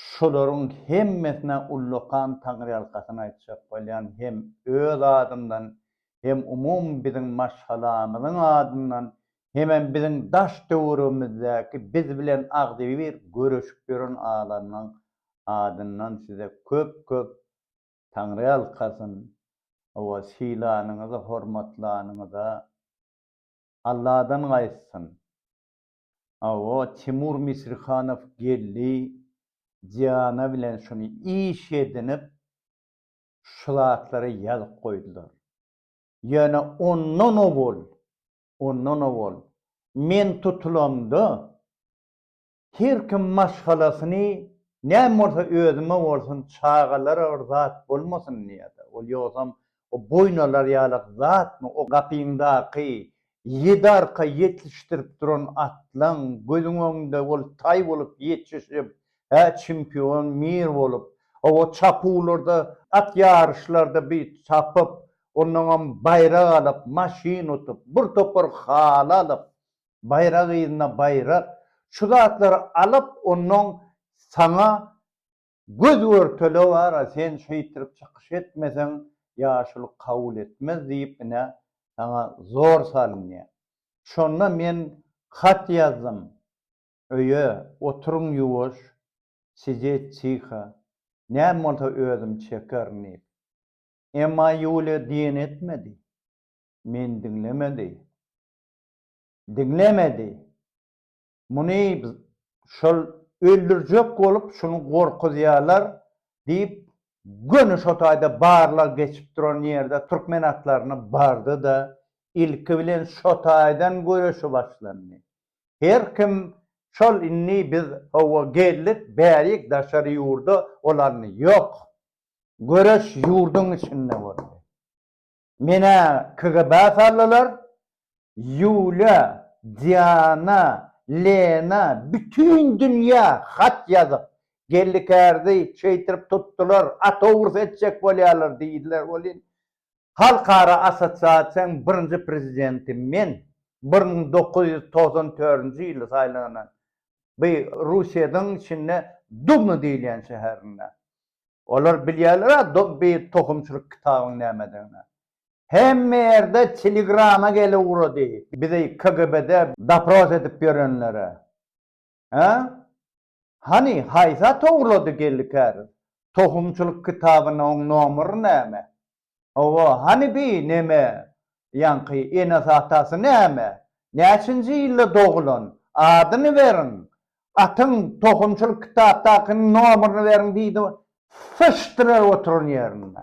Şularyň hemmesine ullakan taňryýalkasyn aýtjak bolýan hem öz adymdan, hem umumy biziň maşgalamyzyň adyndan, hemem biziň daş-töweregimizdäki biz bilen agzybir göreşip ýören adamlaň adyndan size köp-köp taňryýalkasyn, hawa sylanyňyza, hormatlanyňyza Alladan gaýtsyn. Hawa Timur Misrihanow geldi Diana bilen şuny iş edinip şu zatlary ýazyp goýdular. Ýöne ondan owal, ondan owal men tutulamda her kim maşgalasyny näme bolsa özüme bolsun çagalara bir zat bolmasyn diýýärdi. Ol ýogsam O boýun alar ýalak zatmy o gapyňdaky ýedi arka ýetişdirip duran atlaň gözüň öňünde ol taý bolup ýetişip hä çempion mir bolup owo çapuwlarda at ýaryşlarda bi çapyp onnoňam baýrak alyp maşyn utup bir topar haly alyp baýrak yzyna baýrak şu zatlary alyp onnoň saňa Göz görtele bara sen şeýtirip çykyş etmeseň ýaşulyk kabul etmez diýip ine saňa zor salynýa. Şonda men hat ýazdym öýe oturyň ýuwaş sijet tiho näme bolsa özüm çekerin diýip. Emma Ýulýa diýeni etmedi. Meni diňlemedi. Diňlemedi. Muny şol öldürjek bolup, şuny gorkuzýarlar diýip, göni şo taýda barlag geçip duran ýerde türkmen atlaryna bardy-da, ilki bilen şo taýdan göreşi başlandy. Her kim şol indi biz, hawa, geldik, bärik daşary ýurda olandy. Ýok. Göreş ýurduň içinde boldy. Menä KGB saldylar, Ýulýa, Diana, Lena bütin dünýä hat ýazyp, Gellikärdi şeýtirip tutdular, otowrs etjek bolýarlar diýdiler welin, halkara assosiasiýanyň birinji prezidenti men, bir müň dokuz ýüz togsan törünji ýyly saýlanan, bi Russiýadyň içinde Dubna diýilýän şäherinde. Olar bilýärler-ä Dobby tohumçylyk kitabyň nämedigini. Hemme ýerde telegrama gele ugrady. Bizi KGB-de dopros edip ýörenlere. Hä? Hany, haýsy at ogurlady geldi käriz? Tohumçylyk kitabynyň nomery näme? Hawa, hany bi neme ýaňky enesatasy näme? Näçinji ýylda dogulan? Adyny beriň! Atyň tohumçylyk kitapdakynyň nomerini beriň diýdi, syçdylar oturan ýerinde.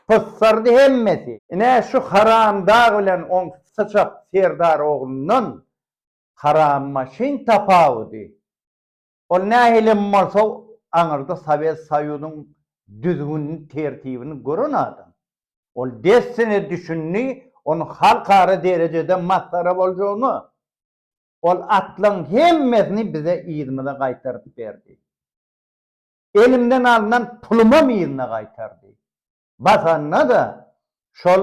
Pyssardy hemmesi. Ine, şu haramdag bilen oň syçak serdar oglundan harammaşyn tapawudy. Ol nähili hem bolsa, aňyrda Sowet Soýuzyň düzgünini, tertibini gören adam. Ol dessine düşündi, onuň halkara derejede masgara boljagyna. Ol atlaryň hemmesini bize yzymyza gaýtaryp berdi. Elimden alnan pulumam yzyna gaýtardy. Basanda-da şol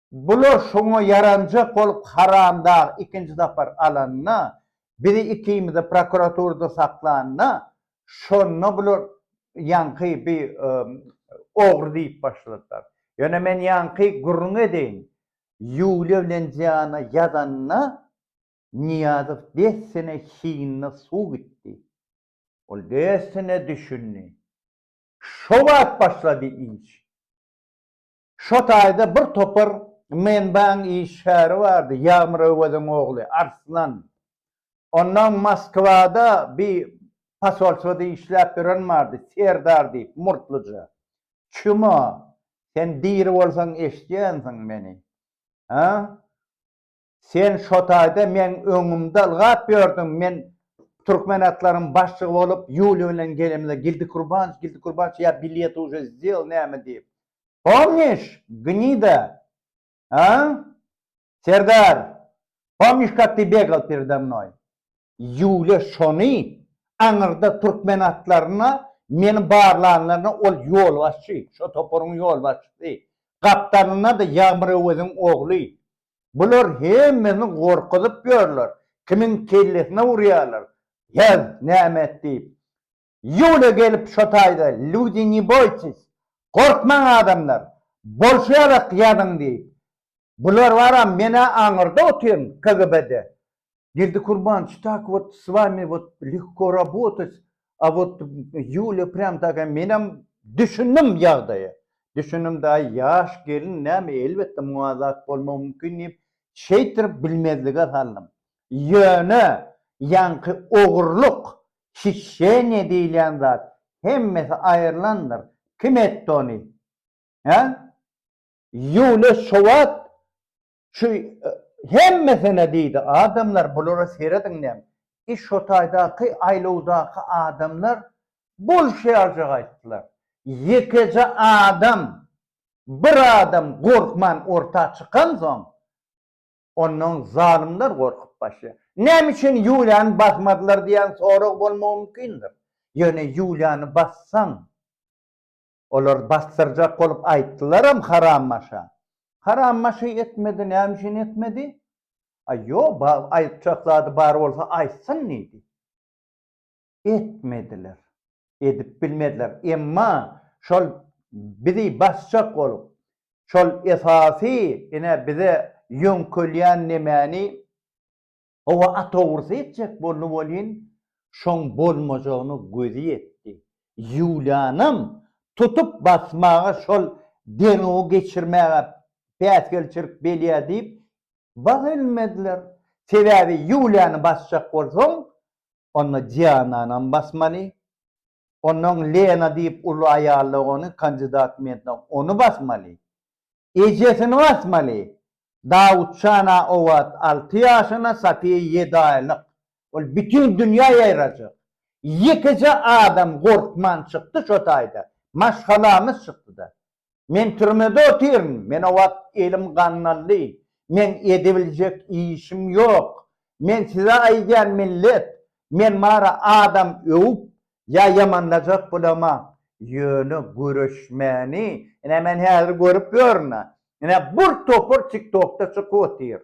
Bular şoňa ýaranjak bolup Haramdag ikinji sapar alanda, bizi ikimizi prokuraturada saklanda, şonda bular ýaňky bi ogry diýip başladylar. Ýöne men ýaňky gürrüň edeýin, Ýuliýa bilen Diana ýadanda Nyýazow dessine hiňine suw gitdi. Ol dessine düşündi. Şo wagt başlady iş. Şo taýda bir topar menbaň işgäri bardy, Ýagmyr Öweziň ogly Arslan. Onnoň Moskwada bi posolstwada işläp ýören bardy, Serdar diýip, murtluja. Çümo, sen diri bolsaň eşidýänsiň meni. Hä? Sen şo taýda meň öňümde ylgap ýördüň, men türkmen atlaryň başlygy bolup Ýuliý bilen gelemde Gildi Kurbanç, Gildi Kurbanç, ýa bilet uje sdyl näme diýip. Pomniş, gnida? A? Serdar, pomniş kak ty begal pereda mnoý? Ýuliý şony aňyrda türkmen atlaryna meni barlanlarynda ol ýolbaşçy, şo toparyň ýolbaşçysy, gapdalynda-da Ýagmyr Öweziň ogly, Bular hemmesini gorkuzyp ýörler, kimiň kellesine urýarlar, ýaz, näme et diýip. Ýuliýa gelip şo taýda, Lýudi, ne boýtsis, gorkmaň adamlar, bolşy ýalak ýazyň diýip. Bular bar-a, men-ä aňyrda otyryn, KGB-de. Gerdikurbanç, tak wot s wami wot lehko rabotat, a wot Ýulýa prýam taka menem düşündim ýagdaýa. Düşündim daýy ýaş gelin näme elbetde muňa zat bolmagy mümkin diýip şeýtirip bilmezlige saldym. Ýöne ýaňky ogurlyk, hişşeniýa diýilýän zat hemmesi aýrylandyr. Kim etdi ony? Hä? Ýulýa şo wagt Şu hemmesine diýdi, adamlar bulara serediňem, i şo taýdaky aýlawdaky adamlar bolşýarjak aýtdylar. Ýekeje adam, bir adam gorkman orta çykansoň, onnoň zalymlar gorkup başlaýar. Näme üçin Ýuliýany basmadylar diýen sorag bolmagy mümkindir. Ýöne Ýuliýany bassaň, Olar basdyrjak bolup aýtdylaram Harambaşa. Harambaşy etmedi, näme üçin etmedi? Aý, ýo, ba, aýtjak zady bar bolsa aýtsyn diýdi. Etmediler. Edip bilmediler. Emma şol bizi basjak bolup, şol esasy, ine, bize ýöňkelýän nemäni Hawa, atogrsy etjek boldy welin, şoň bolmajagyna gözi ýetdi. Ýulianam tutup basmaga, şol derňewi geçirmäge päsgelçilik belýär diýip, bag elmediler. Sebäbi Ýuliany basjak bolsaň, onda Diananam basmaly. Onnoň Lena diýip uly aýallyk ony kandidat menda ony basmaly. Ejesini basmaly. Dawutjan a owaat alty ýaşyna Safiýa ýedi aýlyk. Ol bütin dünýä ýaýrajak. Ýekeje adam gorkman çykdy şo taýda. Maşgalamyz çykdyda. Men türmede otyryn, men o wagt elim gandaldy, meň edebiljek işim ýok. Men size aýdýan millet, men bary adam öwüp ýa ýamanlajak bolama, ýöne göreşmäni, ine men häzir görüp ýörün-ä, ine bir topar tiktokda çykyp otyr.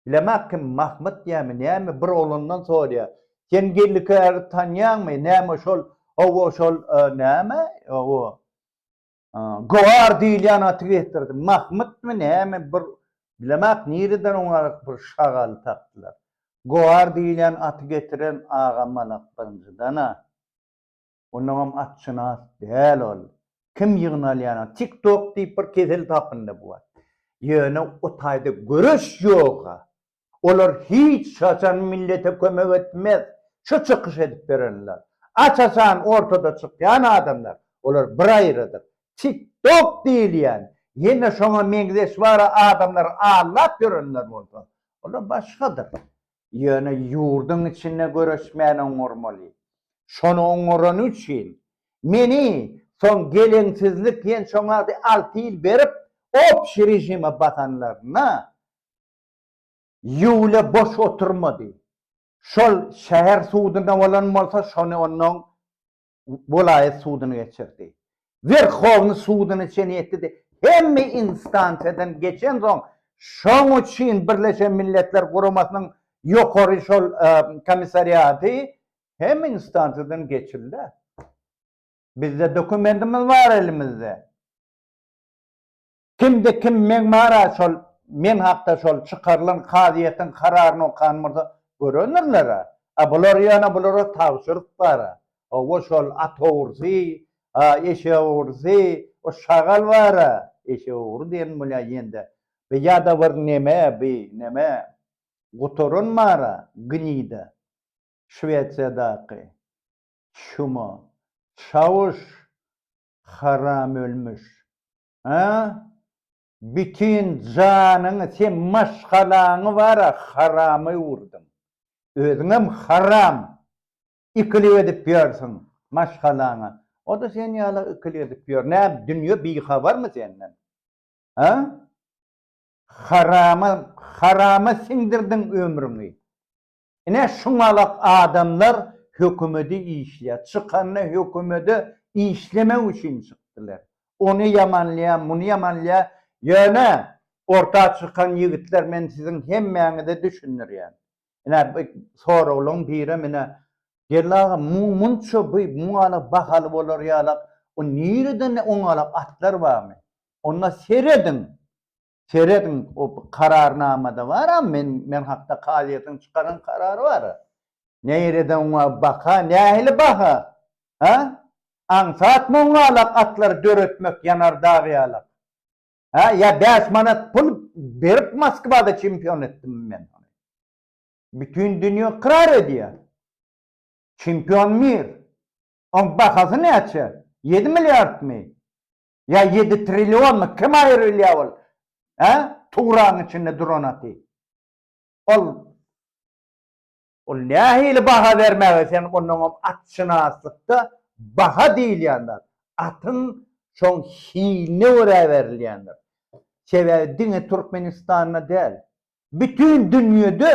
Bilemok kim Mahmyt ýämi näme bir oglandan sorýar, sen Gellikäri tanýaňmy, näme şol, hawa şol näme, hawa. Goar diýilýän aty getirdi. Mahmytmy näme bir bilemak nireden oňa bir şagal tapdylar. Goar diýilýän aty getiren aga malak birinjiden-ä. Onnoňam atşynas däl ol. Kim ýygnalýan at? Tik tok diýip bir kesel tapyndy bu at. Ýöne o taýda göreş ýog-a. Olar hiç haçan millete kömek etmez. Şu çykyş edip berenler. Aç-açan ortada çykýan adamlar. Olar bir aýrydyr. Tik tok diýilýän, ýene şoňa meňzeş wara adamlar allap ýörenler bolsa, olar başgadyr. Ýöne ýurduň içinde göreşmäni oňarmaly. Şony oňarany üçin, meni soň geleňsizlik diýen şoňady alty ýyl berip, obşi režime basanlaryna, Ýuliýa boş oturmady. Şol şäher suduna bolan bolsa, şony onnoň welaýat sudyna geçirdi. Werhowny sudyna çen ýetdi-de, hemme instansiýadan geçensoň, şoň üçin Birleşen Milletler Guramasynyň ýokary şol komissariaty hemme instansiýadan geçildi. Bizde dokumentimiz bar elimizde. Kimde kim meň mara şol men hakda şol çykarylan kazyýetiň kararyny okan bolsa görendirler-ä. A bular ýöne bulara tabşyryk bar-a. Hawa şol at ogrusy, a eşek ogrusy, o şagal bar-a, eşek ogry diýen bolýa ýende. Bi ýa-da bir neme bi neme gutaran bar-a gnida Şwesiýadaky. Çümo. Çawuş. Haram ölmüş. A? Bütin janyňy sen maşgalaňy bar-a harama öwürdiň. Özüňem haram. Ikilik edip ýörsüň maşgalaňa. O-da sen ýaly ikilik edip ýör. Näme, dünýe bihabarmy senden? A? Harama, harama siňdirdiň ömrüňi. Ine şuňalak adamlar hökümede işleýär. Çykanda hökümede işlemek üçin çykdylar. Ony ýamanlaýar, muny ýamanlaýar. Ýöne orta çykan ýigitler men siziň hemmäňize düşündirýän. Ine bu soraglaň birem ine Geldi aga muň munça bu muňalak bahaly bolar ýalak o nireden oňalak atlar barmy? Onda serediň. Serediň o kararnamada bar a men men hakda kazyýetiň çykaran karary bar a. Neýrede oňa baka nähili baha a? Aňsat moňňalak atlary döretmek ýanar dag ýalak a ýa bäş manat pul berip Moskwada çempion etdimmi men ony. Bütin dünýe ykrar edýä. Çempion mir. Oň bahasy näçe? Ýedi milliardmy? Ýa ýedi trilliony kim aýyr bilýä ol hä tugraň içinde duranaty ol ol nähili baha bermäge sen onnoňam atşynaslykda baha diýilýän zat atyň şoň hiline görä berilýändir sebäbi diňe türkmenistanda däl bütin dünýede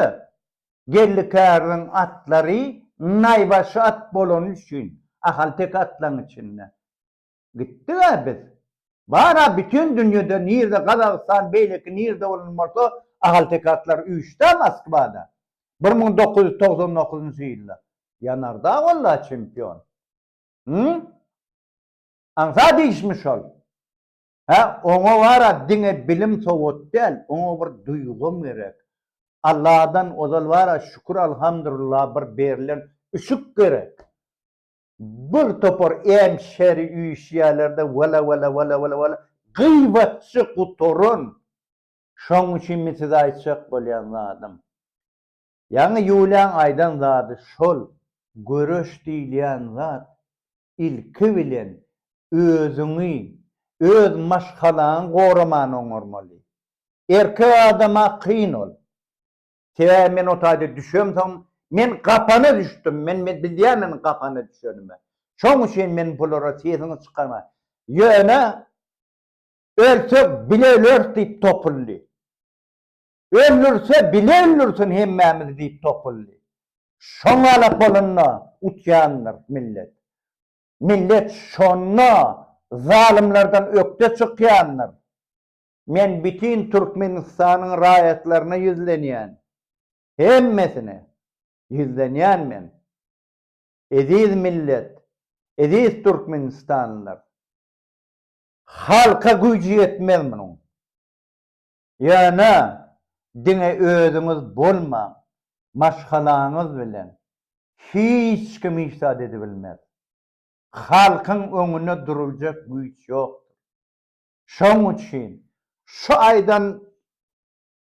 gellikäriniň atlary naýbaşy at bolany üçin ahalteke atlaryň içinde Gitdig-ä biz. Bar-a bütin dünýede nirde Gazagystan beýleki nirde bolan bolsa ahaltekaatlar üýşdi-ä Moskwada. Bir müň dokuz ýüz togsan dokuzynjy ýylda. Ýanar-da walla çempion. Hü? Aňsat işmi şol? Hä, oňa bar-a diňe bilim sowat däl, oňa bir duýgam gerek. Alladan ozal bar-a şükür alhamdurullah bir berilen üşük gerek. Bir topar em şeri üýşýärler-de, wala, wala, wala, wala, wala, gyýbatçy gutaran! Şoň üçinmi size aýtjak bolýan zadym? Ýaňy Ýulýaň aýdan zady şol, göreş diýilýän zat, ilki bilen, özüňi, öz maşgalaňy goramany oňarmaly. Erkek adama kyn ol. Sebäbi men o taýda düşemsoň, men gapana düşdüm, men bilýärmen gapana düşenimi. Şoň üçin men bulara sesiňi çykarma. Ýöne ölsek bile öleris diýip topuldy. Öldürse bile öldürsin hemmämizi diýip topuldy. Şoň alak bolanda utýandyr millet. Millet şonda zalymlardan ökde çykýandyr. Men bütin Türkmenistanyň raýatlaryna ýüzlenýän. Hemmesine ýüzlenýän men. Eziz millet, eziz türkmenistanlylar! Halka güýji ýetmez munuň. Ýöne diňe özüňiz bolmaň, maşgalaňyz bilen hiç kim hiç zat edibilmez. Halkyň öňünde duruljak güýç ýokdur. Şoň üçin şu aýdan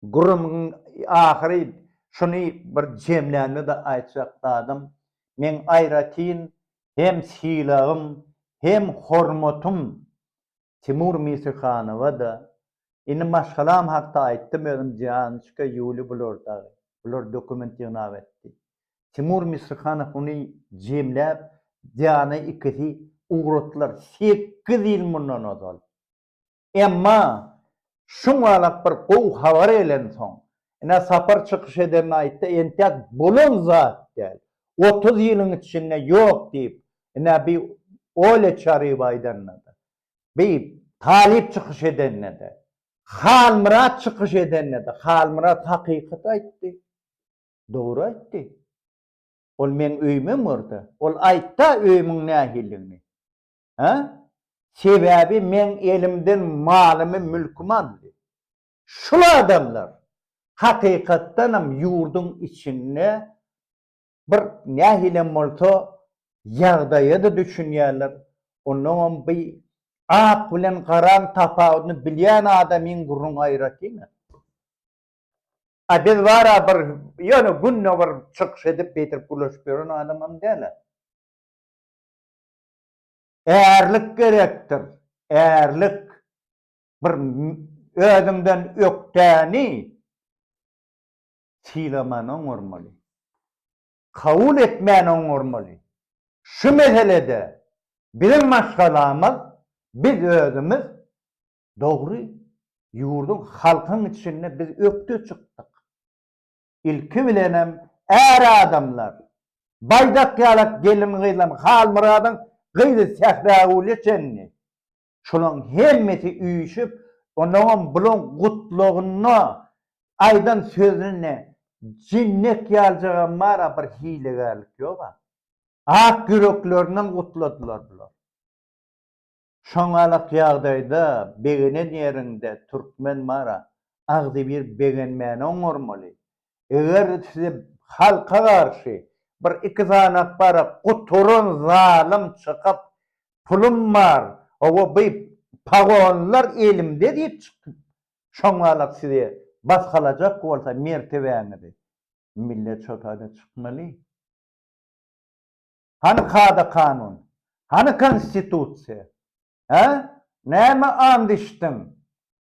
gürrümiň ahyry şuny bir jemlände-de aýtjak zadym, meň aýratyn hem sylagym, hem hormatym Timur Mirsihanowa-da, indi maşgalam hakda aýtdym özüm Dianaçka, Ýuli bular dagy. Bular dokument ýygnap etdi. Timur Misrihanow ony jemläp, Diana ikisi ugratdylar, sekiz ýyl mundan ozal. Emma şuň alap bir gowy habar gelensoň, ine Sapar çykyş edende aýtdy, entäk bolan zat däl, otuz ýylyň içinde ýok diýip, ine bi Olýa Çaryýewa aýdanda-da, bi Talyp çykyş edende-de, Halmyrat çykyş edende-de, Halmyrat hakykaty aýtdy. Dogry aýtdy. Ol meň öýümem bor-da. Ol aýt-da öýümiň nähilidigini. Hä? Sebäbi meň elimden malymy, mülkümi aldy. Şul adamlar, hakykatdanam ýurduň içinde bir nähilem bolsa ýagdaýa-da düşünýärler. Onnoňam bi ak bilen garaň tapawudyny bilýän adamyň gürrüň aýratyn-a. A biz bara bir ýöne günde bir çykyş edip beýdip gürleşip ýören adamam däl-ä. Ärlik gerekdir, ärlik. Bir özüňden ökdäni sylaman oňarmaly. Kabul etmän oňarmaly. Şu meselede biziň maşgalamyz biz özümiz Dogry, ýurduň, halkyň içinde biz ökde çykdyk. Ilki bilenem är adamlar, baýdak-ýalak gelin-gyzlaryň, Halmyradyň gyzy Sähragülä çenli, şularyň hemmesi üýşüp, onuňam bularyň gutlagynda aýdan sözünde jinnek ýaljagam bar-a, bir hilegärlik ýog-a. Ak ýüreklerinden gutladylar bular. Şoňalak ýagdaýda begenen ýeriňde türkmen bara agzybir begenmäni oňarmaly. Eger size halka garşy bir iki sany bara guturan zalym çykyp pulum bar, owo bu pagonlar elimde diýip çykyp şoňalak size basgalajak bolsa mertebäňizi millet şo taýda çykmaly. Hany kada-kanun? Hany Konstitusiýa? Hä? Näme and içdiň?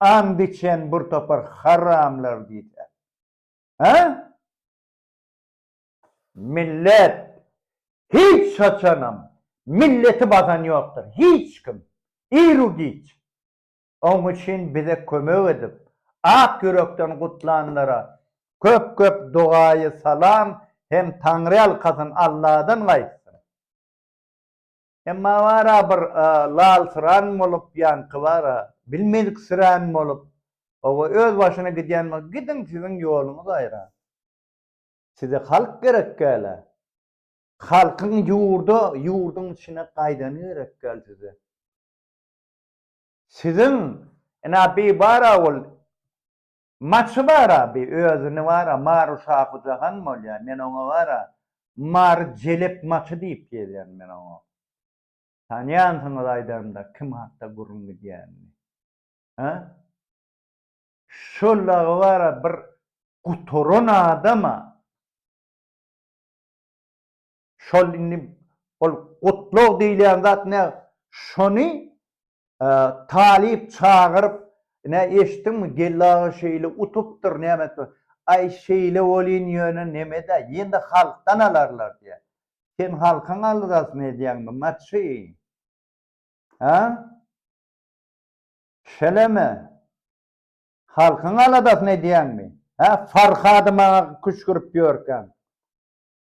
And içen bir topar haramlar diýse. Hä? Millet hiç haçanam milleti basan ýokdur, hiç kim, iru-giç. Oň üçin bize kömek edip, ak ýürekden gutlanlara köp köp dogaýy salam hem taňryýalkasyn Alladan gaýtsyn. Emma bara bir lalsyran bolup ýanky bara bilmeziksirän bolup oba öz başyna gidýän bolsa gidiň siziň ýoluňyz aýra. Size halk gerek dälä. Halkyň ýurda ýurdyň içine gaýdany gerek däl size. Siziň ina bi bara ol maçy bara bi özüni bara maru şahu jahan bolýa men oňa bara mary jelep maçy diýip gelýän men oňa tanýansyňyz aýdanda kim hakda gürrüň gidýänini ha şol dagy bara bir gutaran adama Şol indi ol gutlag diýilýän zat ne şony talyp çagyryp ne eşitdiňmi Geldi aga şeýle utupdyr näme etipdir. Aý şeýle bolýyn ýöne nemedä ýene-de halkdan alarlar diýýä. Sen halkyň aldasyny edýäňmi maçy. Hä? Şeleme. Halkyň aladasyny edýäňmi? Hä Farhady maňa küşgürip ýörkäň.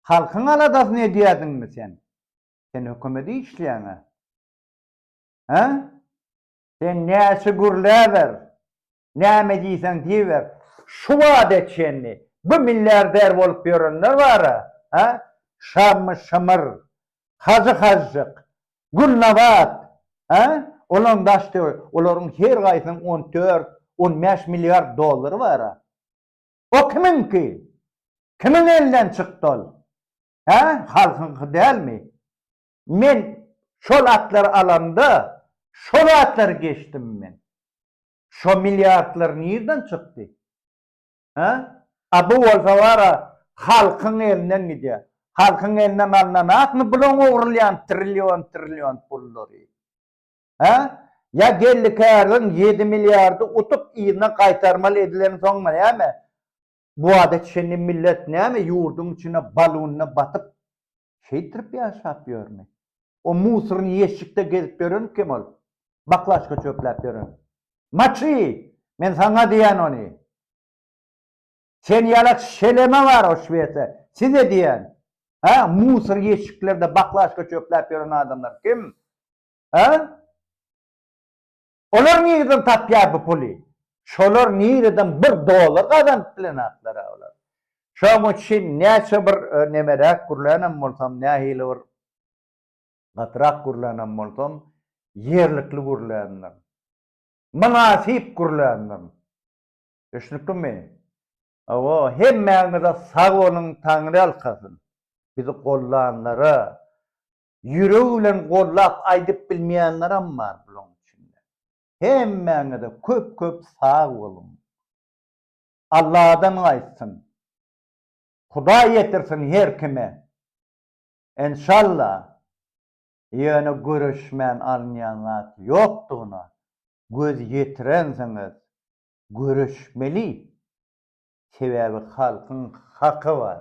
Halkyň aladasyny edýädiňmi sen? Sen hökümede işleýäňä? Hä? Sen näçe gürläber, näme diýseň diýiber, şu bada çenli bu milliarder bolup ýörenler bar-a, hä? Şammy Şamyr, Hajy Hajjyk, Gülnabat, hä? Olaryň daş-töwerek, olaryň her gaýsynyň on dört, on bäş milliard dollary bar-a. O kimiňki? Kimiň elinden çykdy ol? Hä, halkyňky dälmi? Men şol atlary alamda, şo zatlary geçdim men. Şo milliardlar nirden çykdy? Hä? A bu bolsa bar-a, halkyň elinden gidýär. Halkyň elinden alnanakmy bulaň ogrulýan trillion-trillion pullary? Hä? Ýa geldi kärden ýedi milliardy utup yzyna gaýtarmaly edilen soňmy näme? Bu wada çenli millet näme ýurduň içine balunda batyp şeýtirip ýaşap ýörmi? O musorny ýeşikde gezip ýören kim ol? Baklažka çöpläp ýören. Maçy! Men saňa diýýän ony. Sen ýalak şeleme bar o şwese size diýýän. Hä musor ýeşiklerde baklažka çöpläp ýören adamlar kim? Hä? Olar nireden tapýar bu puly? Şolar nireden bir dollar gazanyp bilenaklar-a olar? Şoň üçin näçe bir nemeräk gürlänem bolsam, nähili bir gatyrak gürlänem bolsam, ýerlikli gürländir. Mynasyp gürländir. Düşnüklimi? Hawa, hemmäňize sag boluň, Taňry alkasyn. Bizi gollanlara, Ýüregi bilen gollap aýdyp bilmeýänlerem bar bulaň içinde. Hemmäňize köp köp sag boluň. Alladan gaýtsyn. Hudaý ýetirsin her kime. Enşalla. Ýöne göreşmän alynýan zat ýokdugyna göz ýetirensiňiz. Göreşmeli. Sebäbi halkyň haky bar.